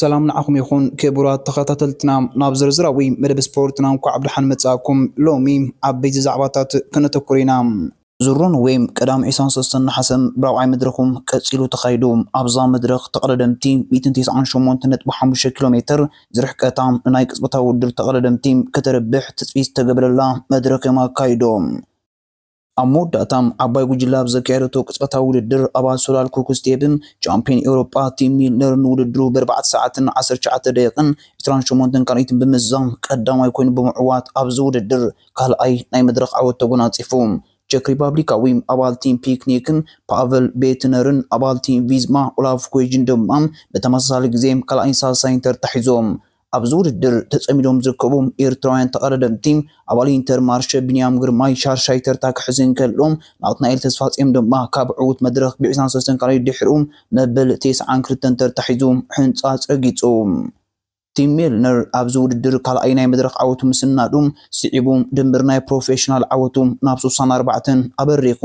ሰላም ንዓኹም ይኹን ክቡራት ተኸታተልትና፣ ናብ ዝርዝራዊ መደብ ስፖርትና እንኳዕ ብደሓን መጻእኩም። ሎሚ ዓበይቲ ዛዕባታት ከነተኩር ኢና። ዙር ኖርዌይ ቀዳም 23 ነሓሰ ብራብዓይ መድረኹ ቀጺሉ ተኻይዱ። ኣብዛ መድረኽ ተቐዳደምቲ 198.5 ኪሎ ሜተር ዝርሕቀታ ንናይ ቅጽበታዊ ውድድር ተቐዳደምቲ ከተርብሕ ትጽቢት ዝተገበረላ መድረኽ እዮም ኣካይዶም። ኣብ መወዳእታ ዓባይ ጉጅለ ኣብ ዘካየደቶ ቅጽበታዊ ውድድር ኣባል ሶላል ኩክስቴብን ቻምፕዮን ኤውሮጳ ቲም ሚልነርን ንውድድሩ ብኣርባዕተ ሰዓትን ዓሰርተ ትሽዓተ ደቂቕን ዕስራን ሸሞንተን ካልኢትን ብምዝዛም ቀዳማይ ኮይኑ ብምዕዋት ኣብዚ ውድድር ካልኣይ ናይ መድረኽ ዓወት ተጎናጺፉ። ቸክ ሪፓብሊካዊ ኣባል ቲም ፒክኒክን ፓቨል ቤትነርን ኣባል ቲም ቪዝማ ኦላፍ ኩዌጅን ድማ ብተመሳሳሊ ግዜ ካልኣይን ሳልሳይን ተርታ ሒዞም ኣብዚ ውድድር ተጸሚዶም ዝርከቡ ኤርትራውያን ተቐዳደምቲ፣ ኣባል ኢንተር ማርሸ ቢንያም ግርማይ ሻርሻይ ተርታ ክሕዝ እንከሎ፣ ናትናኤል ተስፋጽዮን ድማ ካብ ዕዉት መድረኽ ብዒስራን ሰለስተን ካልኣይ ድሒሩ መበል ቴስዓን ክልተን ተርታ ሒዙ ሕንጻጽ ረጊጹ። ቲም ሜልነር ኣብዚ ውድድር ካልኣይ ናይ መድረኽ ዓወቱ ምስናዱ ስዒቡ ድምር ናይ ፕሮፌሽናል ዓወቱ ናብ ሱሳን ኣርባዕተን ኣበሪኹ።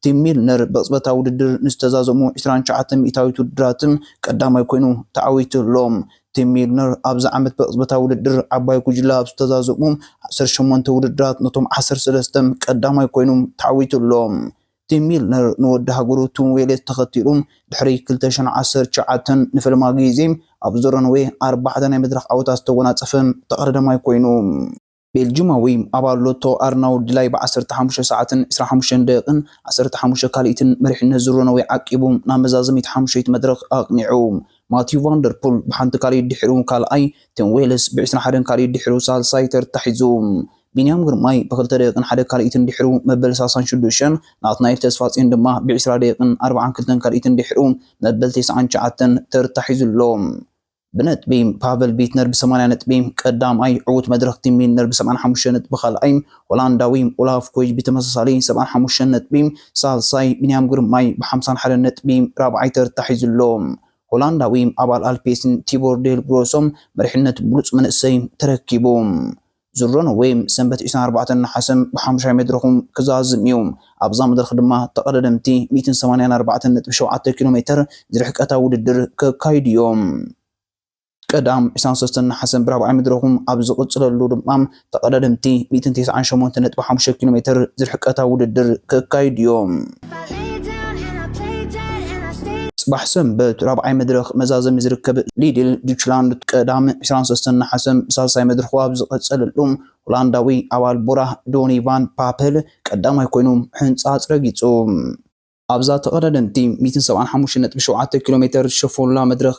ቲም ሚልነር ብቕጽበታዊ ውድድር ንዝተዛዘሙ ዕስራን ትሽዓተን ሚእታዊት ውድድራት ቀዳማይ ኮይኑ ተዓዊቱ ኣሎ። ቲም ሚልነር ኣብዚ ዓመት ብቕጽበታዊ ውድድር ዓባይ ጉጅለ ኣብ ዝተዛዘሙ ዓሰርተ ሸሞንተ ውድድራት ነቶም ዓሰርተ ሰለስተ ቀዳማይ ኮይኑ ተዓዊቱ ኣሎ። ቲም ሚልነር ንወዲ ሃገሩ ቲም ዌሌስ ተኸቲሉ ድሕሪ ክልተ ሽሕን ዓሰርተ ትሽዓተን ንፈለማ ግዜ ኣብ ዞረንዌ ኣርባዕተ ናይ መድረኽ ዓወታት ዝተጎናጸፈ ተቐዳዳማይ ኮይኑ። ቤልጁማዊ ኣባል ሎቶ ኣርናውልድ ላይ ብዓሰርተ ሓሙሽተ ሰዓትን ዕስራን ሓሙሽተን ደቂቕን ዓሰርተ ሓሙሽተ ካልኢትን መሪሕነት ዙር ኖርወይ ዓቂቡ ናብ መዛዘሚት ሓሙሸይቲ መድረኽ ኣቕኒዑ። ማቲው ቫን ደር ፑል ብሓንቲ ካልኢት ድሒሩ ካልኣይ፣ ቲም ዌልስ ብዕስራን ሓደን ካልኢት ድሒሩ ሳልሳይ ተርታ ሒዙ። ቢንያም ግርማይ ብክልተ ደቂቕን ሓደ ካልኢትን ድሒሩ መበል ሳሳን ሽዱሽተን፣ ናትናኤል ተስፋጽዮን ድማ ብዕስራ ደቂቕን ኣርባዓን ክልተን ካልኢትን ድሒሩ መበል ቴስዓን ትሽዓተን ተርታ ሒዙ ኣሎ። ብነጥቢ ፓቨል ቢትነር ብ ሰማንያ ነጥቢ ቀዳምኣይ፣ ዕዉት መድረኽ ቲም ሚልነር ብ ሰብዓን ሓሙሽተን ነጥቢ ካልኣይ፣ ሆላንዳዊ ኦላፍ ኮይጅ ብተመሳሳሊ ሰብዓን ሓሙሽተን ነጥቢ ሳልሳይ፣ ቢንያም ግርማይ ብ ሓምሳን ሓደን ነጥቢ ራብዓይ ተርታ ሒዙ ኣሎ። ሆላንዳዊ ኣባል ኣልፔስን ቲቦር ዴል ግሮሶ መሪሕነት ብሉጽ መንእሰይ ተረኪቡ። ዝሮን ዌይም ሰንበት ዒስራን ኣርባዕተን ነሓሰ ብሓሙሻይ መድረኹ ክዛዝም እዩ። ኣብዛ መድረኽ ድማ ተቐዳደምቲ ሚእትን ሰማንያን ኣርባዕተን ነጥቢ ሸውዓተ ኪሎ ሜተር ዝርሕቀታ ውድድር ከካይዱ እዮም። ቀዳም ዒስራን ሰለስተን ነሓሰ ብራብዓይ መድረኹ ኣብ ዝቕፅለሉ ድማ ተቐዳደምቲ ሚእትን ተስዓን ሸሞንተን ነጥቢ ሓሙሽተ ኪሎ ሜተር ዝርሕቀታ ውድድር ከካይዱ እዮም። ጽባሕ ሰንበት ራብዓይ መድረኽ መዛዘሚ ዝርከብ ሊድል ዱችላንድ ቀዳም ዕስራን ሰለስተን ነሓሰ ብሳልሳይ መድርኹ ኣብ ዝቐጸለሉ ሆላንዳዊ ኣባል ቦራ ዶኒ ቫን ፓፐል ቀዳማይ ኮይኑ ሕንጻጽ ረጊጹ። ኣብዛ ተቐዳደምቲ ሚእትን ሰብዓን ሓሙሽተን ነጥቢ ሸውዓተ ኪሎ ሜተር ዝሸፈኑላ መድረኽ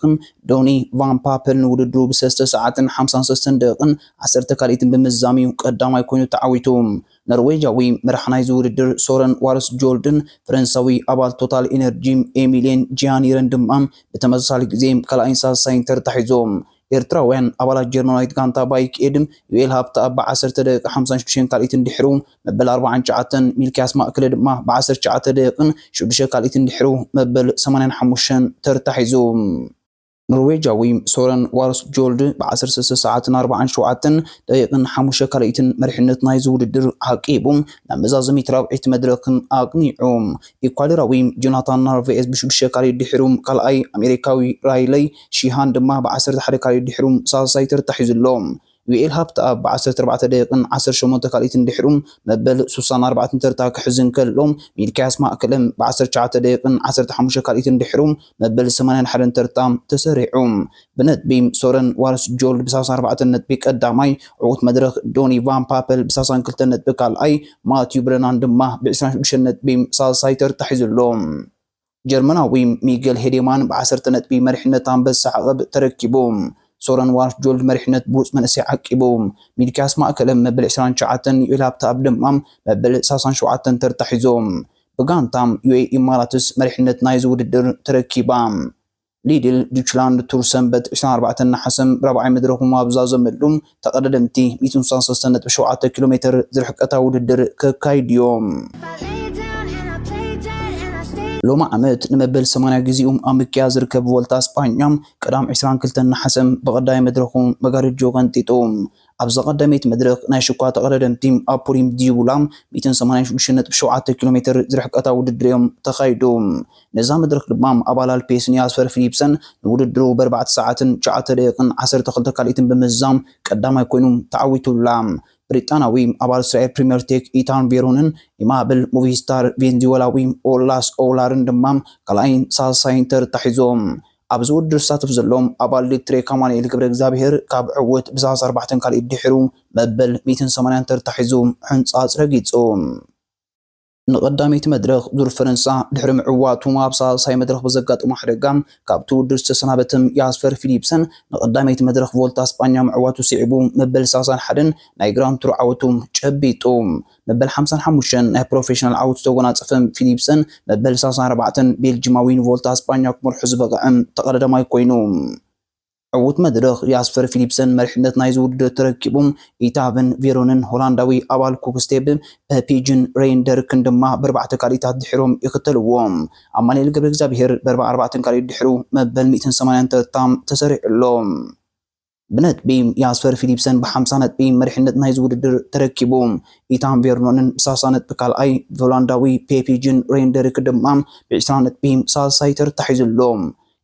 ዶኒ ቫን ፓፐል ንውድድሩ ብሰለስተ ሰዓትን ሓምሳን ሰለስተን ደቒቕን ዓሰርተ ካልኢትን ብምዝዛም'ዩ ቀዳማይ ኮይኑ ተዓዊቱ። ኖርዌጃዊ መራሕ ናይዚ ውድድር ሶረን ዋርስጆልድን ፈረንሳዊ ኣባል ቶታል ኢነርጂ ኤሚልየን ጂያኒርን ድማ ብተመሳሳሊ ግዜ ካልኣይን ሳልሳይን ተርታ ሒዞም። ኤርትራውያን ኣባላት ጀርመናዊት ጋንታ ባይክ ኤድ ዩኤል ሃብተኣብ ብዓሰርተ ደቂቕ ሓምሳን ሽዱሽተን ካልኢትን ድሕሩ መበል ኣርባዓን ትሽዓተን፣ ሚልክያስ ማእክለ ድማ ብዓሰርተ ትሽዓተ ደቂቕን ሽዱሽተ ካልኢትን ድሕሩ መበል ሰማንያን ሓሙሽተን ተርታ ሒዙ። ኖርዌጃዊ ሶረን ዋርስጆልድ ብ ዓሰርተ ሰለስተ ሰዓትን ኣርብዓን ሸውዓተን ደቂቕን ሓሙሽተ ካልኢትን መሪሕነት ናይዚ ውድድር ኣዕቂቡ ናብ መዛዘሚት ራብዐይቲ መድረኽ ኣቕኒዑ። ኢኳዶራዊ ጆናታን ናርቫኤዝ ብ ሽዱሽተ ካልኢት ድሒሩ ካልኣይ፣ ኣሜሪካዊ ራይለይ ሺሃን ድማ ብ ዓሰርተ ሓደ ካልኢት ድሒሩ ሳልሳይ ተርታ ሒዙ ኣሎ። ዩኤል ሃብተኣብ ብ ዓሰርተ ኣርባዕተ ደቂቅን ዓሰርተ ሸሞንተ ካልኢትን ድሒሩ መበል ሱሳን ኣርባዕትን ተርታ ክሕዝ እንከሎ፣ ሚልክያስ ማእከለ ብ ዓሰርተ ትሽዓተ ደቂቅን ዓሰርተ ሓሙሽተ ካልኢትን ድሒሩ መበል ሰማንያን ሓደን ተርታ ተሰሪዑ ብነጥቢ ሶረን ዋርስጆልድ ብ ሳሳን ኣርባዕተን ነጥቢ ቀዳማይ፣ ዕዉት መድረኽ ዶኒ ቫን ፓፐል ብ ሳሳን ክልተን ነጥቢ ካልኣይ፣ ማቲው ብረናን ድማ ብ ዕስራን ሽዱሽተን ነጥቢ ሳልሳይ ተርታ ሒዙ ኣሎ። ጀርመናዊ ሚገል ሄዴማን ብዓሰርተ ነጥቢ መሪሕነት ኣንበሳ ዓቐብ ተረኪቡ። ሶረን ዋርፍጆልድ መሪሕነት ብሉጽ መንእሰይ ዓቂቡ። ሚልክያስ ማእከለ መበል ዕስራን ትሽዓተን ዩኤል ሃብተኣብ ድማ መበል ሳሳን ሸውዓተን ተርታ ሒዞም። ብጋንታ ዩኤ ኢማራትስ መሪሕነት ናይዚ ውድድር ተረኪባ። ሊድል ዱችላንድ ቱር ሰንበት ዕስራን ኣርባዕተን ነሓሰ ራብዓይ መድረኹም ኣብ ዝዛዘመሉ፣ ተቐዳደምቲ ሚእትን ስሳን ሰለስተን ነጥቢ ሸውዓተ ኪሎ ሜተር ዝርሕቀታ ውድድር ከካይዱ'ዮም። ሎሚ ዓመት ንመበል ሰማንያ ግዜኡ ኣብ ምክያድ ዝርከብ ቮልታ ስጳኛ፣ ቀዳም ዕስራን ክልተን ነሓሰ ብቐዳማይ መድረኹ መጋርጆ ቀንጢጡ፣ ኣብዛ ቀዳመይቲ መድረኽ ናይ ሽኳ ተቐዳደምቲ ኣብ ፑሪም ዲቡላ ሚእትን ሰማንያን ሽዱሽተን ነጥቢ ሸውዓተ ኪሎ ሜትር ዝርሕቀታ ውድድር'ዮም ተኻይዱ። ነዛ መድረኽ ድማ ኣባል ኣልፔስን ያስፐር ፊሊፕሰን ንውድድሩ ብኣርባዕተ ሰዓትን ትሽዓተ ደቒቕን ዓሰርተ ክልተ ካልኢትን ብምዝዛም ቀዳማይ ኮይኑ ተዓዊቱላ። ብሪጣናዊ ኣባል እስራኤል ፕሪምየር ቴክ ኢታን ቬሮንን ኢማብል ሞቪስታር ቬንዙዌላዊ ኦላስ ኦውላርን ድማ ካልኣይን ሳልሳይን ተርታ ሒዞም ኣብዚ ውድድር ዝሳተፍ ዘሎ ኣባል ሊትሬክ ኣማኑኤል ገብረእግዚኣብሄር ካብ ዕውት ብዝሃስ ኣርባዕተን ካልኢት ድሒሩ መበል ሚእትን ሰማንያን ተርታ ሒዙ ሕንጻጽ ረጊጹ። ንቐዳመይቲ መድረኽ ዙር ፈረንሳ ድሕሪ ምዕዋቱ ኣብ ሳልሳይ መድረኽ ብዘጋጠሞ ሓደጋ ካብቲ ውድድር ዝተሰናበተ ያስፐር ፊሊፕሰን ንቐዳመይቲ መድረኽ ቮልታ ስጳኛ ምዕዋቱ ስዒቡ መበል ሰላሳን ሓደን ናይ ግራንድ ቱር ዓወቱ ጨቢጡ። መበል ሓምሳን ሓሙሽተን ናይ ፕሮፌሽናል ዓወቱ ዝተጎናጸፈ ፊሊፕሰን፣ መበል ሳልሳን ኣርባዕተን ቤልጂማዊን ቮልታ ኣስጳኛ ክመርሖ ዝበቕዐ ተቐዳዳማይ ኮይኑ። ዕዉት መድረኽ ያስፐር ፊሊፕሰን መሪሕነት ናይዚ ውድድር ተረኪቡ፣ ኢታ ቨን ቬሮንን ሆላንዳዊ ኣባል ኩክስቴብ ፐፒጅን ረይን ደርክን ድማ በርባዕተ ካልኢታት ድሒሮም ይኽተልዎ። ኣማኒኤል ገብረእግዚኣብሄር በርባ ኣርባዕተን ካልኢት ድሒሩ መበል ሚእትን ሰማንያን ተርታ ተሰሪዑ ኣሎ። ብነጥቢ ያስፐር ፊሊፕሰን ብሓምሳ ነጥቢ መሪሕነት ናይዚ ውድድር ተረኪቡ። ኢታን ቬርኖንን ብሳሳ ነጥቢ ካልኣይ፣ ብሆላንዳዊ ፔፒ ጂን ሬንደሪክ ድማ ብዒስራ ነጥቢ ሳልሳይ ተርታ ሒዙ ኣሎ።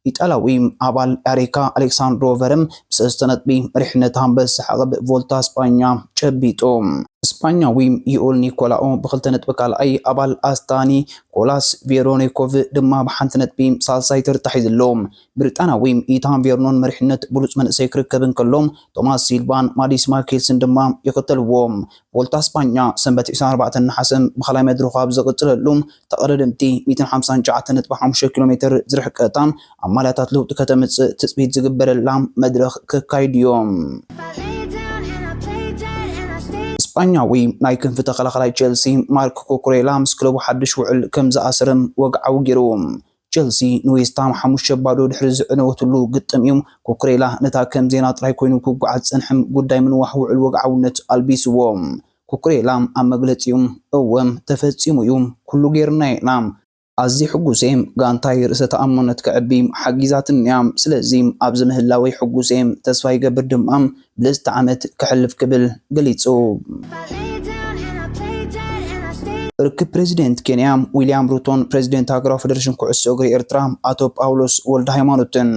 ኢጣልያዊ ኣባል ኣሪካ ኣሌክሳንድሮ ቨርም ብሰለስተ ነጥቢ መሪሕነት ኣንበሳ ዓቕብ ቮልታ ስጳኛ ጨቢጡ። ስጳኛዊ ዩኡል ኒኮላኦ ብክልተ ነጥቢ ካልኣይ፣ ኣባል ኣስታኒ ኮላስ ቬሮኒኮቭ ድማ ብሓንቲ ነጥቢ ሳልሳይ ተርታ ሒዙ ኣሎ። ብሪጣንያዊ ኢታን ቬርኖን መሪሕነት ብሉጽ መንእሰይ ክርከብ እንከሎ፣ ቶማስ ሲልቫን ማዲስ ማርኬልስን ድማ ይኽተልዎ። ቮልታ ስጳኛ ሰንበት ዕስራን ኣርባዕተን ነሓሰ ብኻልኣይ መድረኹ ኣብ ዝቕጽለሉ፣ ተቐዳደምቲ ሚእትን ሓምሳን ትሽዓተ ነጥቢ ሓሙሽተ ኪሎ ሜተር ዝርሕቀታ ኣብ ማልያታት ለውጢ ከተምጽእ ትጽቢት ዝግበረላ መድረኽ ክካይድዮ። ስጳኛዊ ናይ ክንፊ ተኸላኻላይ ቸልሲ ማርክ ኩኩሬላ ምስ ክለቡ ሓድሽ ውዕል ከምዝኣሰረ ወግዓዊ ገይሩ። ቸልሲ ንዌስትሃም ሓሙሽተ ባዶ ድሕሪ ዝዕነወትሉ ግጥም እዩ ኩኩሬላ ነታ ከም ዜና ጥራይ ኮይኑ ክጓዓዝ ዝጸንሐም ጉዳይ ምንዋሕ ውዕል ወግዓውነት ኣልቢስዎ። ኩኩሬላ ኣብ መግለጺኡ እወ ተፈጺሙ እዩ፣ ኩሉ ጌርና ኢና። ኣዝየ ሕጉስ እየ፣ ጋንታይ ርእሰ ተኣማንነት ከዕቢ ሓጊዛትኒ እያ፣ ስለዚ ኣብዚ ምህላወይ ሕጉስ እየ፣ ተስፋ ይገብር ድማ ብልጽቲ ዓመት ከሕልፍ ክብል ገሊጹ። ርክብ ፕረዚደንት ኬንያ ዊልያም ሩቶን ፕረዚደንት ሃገራዊ ፈደረሽን ኩዕሶ እግሪ ኤርትራ ኣቶ ጳውሎስ ወልደሃይማኖትን።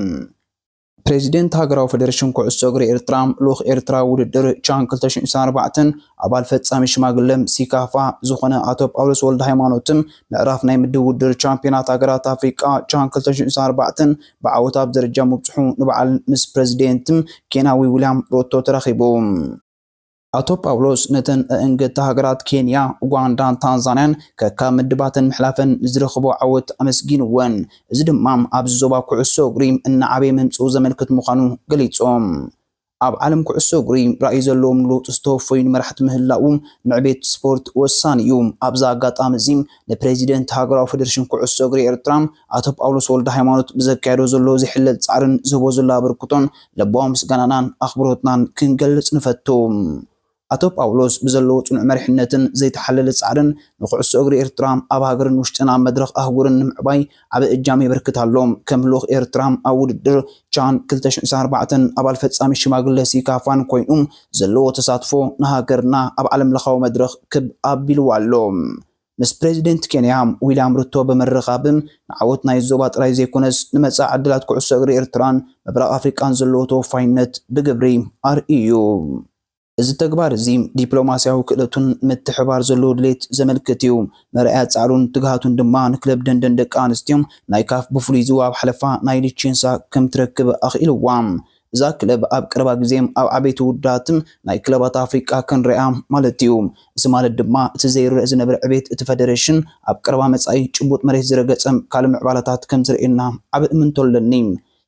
ፕረዚደንት ሃገራዊ ፈደረሽን ኩዕሶ እግሪ ኤርትራ ልኡኽ ኤርትራ ውድድር ቻን ክልተ ሽሕን ዒስራን ኣርባዕተን ኣባል ፈጻሚ ሽማግለ ሲካፋ ዝኾነ ኣቶ ጳውሎስ ወልደሃይማኖትን ምዕራፍ ናይ ምድብ ውድድር ቻምፕዮናት ሃገራት ኣፍሪቃ ቻን ክልተ ሽሕን ዒስራን ኣርባዕተን ብዓወት ኣብ ደረጃ ምብጽሑ ንበዓል ምስ ፕረዚደንት ኬንያዊ ዊልያም ሩቶ ተራኺቡ። ኣቶ ጳውሎስ ነተን ኣእንገድቲ ሃገራት ኬንያ፣ ኡጋንዳን ታንዛንያን ከካብ ምድባተን ምሕላፈን ንዝረኸቦ ዓወት ኣመስጊንወን። እዚ ድማ ኣብዚ ዞባ ኩዕሶ እግሪ እናዓበየ ምምጽኡ ዘመልክት ምዃኑ ገሊጾም። ኣብ ዓለም ኩዕሶ እግሪ ራእይ ዘለዎም ንለውጢ ዝተወፈዩ ንመራሕቲ ምህላው ንዕቤት ስፖርት ወሳኒ እዩ። ኣብዚ ኣጋጣሚ እዚ ንፕረዚደንት ሃገራዊ ፈደረሽን ኩዕሶ እግሪ ኤርትራ ኣቶ ጳውሎስ ወልደሃይማኖት ብዘካየዶ ዘሎ ዘይሕለል ጻዕርን ዝህቦ ዘሎ ኣበርክቶን ልባዊ ምስጋናናን ኣኽብሮትናን ክንገልጽ ንፈቱ። ኣቶ ጳውሎስ ብዘለዎ ጽኑዕ መሪሕነትን ዘይተሓለለ ጻዕርን ንኩዕሶ እግሪ ኤርትራ ኣብ ሃገርን ውሽጥን ኣብ መድረኽ ኣህጉርን ንምዕባይ ዓቢ እጃም የበርክት ኣሎ። ከም ልኡኽ ኤርትራ ኣብ ውድድር ቻን ክልተ ሽሕን ዕስራን ኣርባዕተን ኣባል ፈጻሚት ሽማግለ ሲካፋን ኮይኑ ዘለዎ ተሳትፎ ንሃገርና ኣብ ዓለምለኻዊ መድረኽ ክብ ኣቢልዋ ኣሎ። ምስ ፕረዚደንት ኬንያ ዊልያም ሩቶ ብምርኻብ ንዓወት ናይ ዞባ ጥራይ ዘይኮነስ ንመጻኢ ዕድላት ኩዕሶ እግሪ ኤርትራን ምብራቕ ኣፍሪቃን ዘለዎ ተወፋይነት ብግብሪ ኣርእዩ። እዚ ተግባር እዚ ዲፕሎማስያዊ ክእለቱን ምትሕብባር ዘለዎ ድሌት ዘመልክት እዩ። መርኣያ ጻዕሩን ትግሃቱን ድማ ንክለብ ደንደን ደቂ ኣንስትዮ ናይ ካፍ ብፍሉይ ዝዋብ ሓለፋ ናይ ሊቼንሳ ከም ትረክብ ኣኽኢልዋ። እዛ ክለብ ኣብ ቀረባ ግዜ ኣብ ዓበይቲ ውድድራት ናይ ክለባት ኣፍሪቃ ክንርእያ ማለት እዩ። እዚ ማለት ድማ እቲ ዘይርእ ዝነበረ ዕቤት እቲ ፈደረሽን ኣብ ቀረባ መጻኢ ጭቡጥ መሬት ዝረገጸ ካልእ ምዕባለታት ከም ዝርእየና ዓቢ እምንቶ ኣለኒ።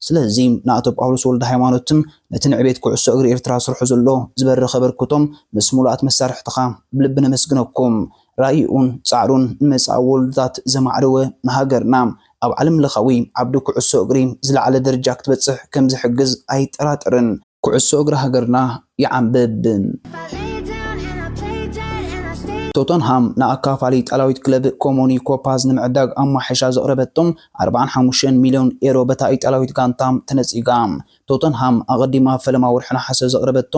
ስለዚ ንኣቶ ጳውሎስ ወልደሃይማኖትን ነቲ ንዕቤት ኩዕሶ እግሪ ኤርትራ ስርሑ ዘሎ ዝበረኸ ኣበርክቶም ምስ ምሉኣት መሳርሕትኻ ብልቢ ነመስግነኩም። ራኢኡን ጻዕሩን ንመጻኢ ወለዶታት ዘማዕደወ ንሃገርና ኣብ ዓለምለኻዊ ዓውዲ ኩዕሶ እግሪ ዝለዓለ ደርጃ ክትበጽሕ ከምዝሕግዝ ኣይጠራጠርን። ኩዕሶ እግሪ ሃገርና ይዓምብብ! ቶተንሃም ንኣካፋሊ ኢጣልያዊት ክለብ ኮሞ ኒኮፓዝ ንምዕዳግ ኣብ ማሕሻ ዘቕረበቶ ኣርባዓን ሓሙሽተን ሚልዮን ኤሮ በታ ኢጣልያዊት ጋንታ ተነጺጋ። ቶተንሃም ኣቐዲማ ኣብ ፈለማ ወርሒ ነሓሰ ዘቕረበቶ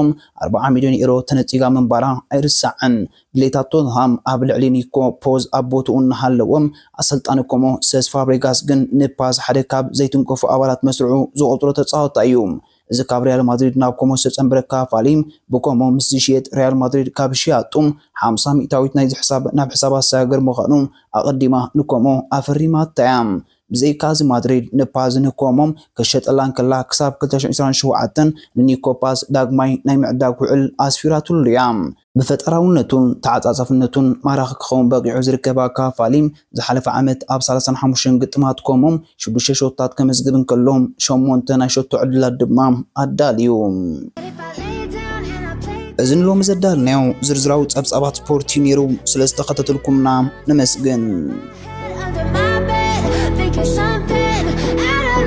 ኣርብዓ ሚልዮን ኤሮ ተነጺጋ ምንባራ ኣይርሳዕን። ድሌታት ቶተንሃም ኣብ ልዕሊ ኒኮ ፖዝ ኣብ ቦትኡ እናሃለወ፣ ኣሰልጣኒ ኮሞ ሰስ ፋብሬጋስ ግን ንፓዝ ሓደ ካብ ዘይትንከፉ ኣባላት መስርዑ ዝቖጽሮ ተጻወታይ እዩ። እዚ ካብ ሪያል ማድሪድ ናብ ኮሞ ዝተጸንበረ ክፋሊ ብኮሞ ምስ ዝሽየጥ ሪያል ማድሪድ ካብ ሽያጡ ሓምሳ ሚእታዊት ናይዚ ሕሳብ ናብ ሕሳባ ዝሰጋገር ምዃኑ ኣቐዲማ ንኮሞ ኣፈሪማታ'ያ። ብዘይካ'ዚ ማድሪድ ንፓዝ ንኮሞ ክትሸጠላ እንከላ ክሳብ ክልተ ሺሕ ዕስራን ሸውዓተን ንኒኮ ፓዝ ዳግማይ ናይ ምዕዳግ ውዕል ኣስፊራትሉ'ያ። ብፈጠራውነቱን ተዓጻጻፍነቱን ማራኺ ክኸውን በቒዑ ዝርከብ ኣካፋሊ፣ ዝሓለፈ ዓመት ኣብ ሳላሳን ሓሙሽተን ግጥማት ኮሞ ሽዱሽተ ሸቶታት ከመዝግብ እንከሎ፣ ሸሞንተ ናይ ሸቶ ዕድላት ድማ ኣዳልዩ። እዚ ንሎሚ ዘዳልናዮ ዝርዝራዊ ጸብጻባት ስፖርት እዩ ነይሩ። ስለ ዝተኸታተልኩምና ነመስግን።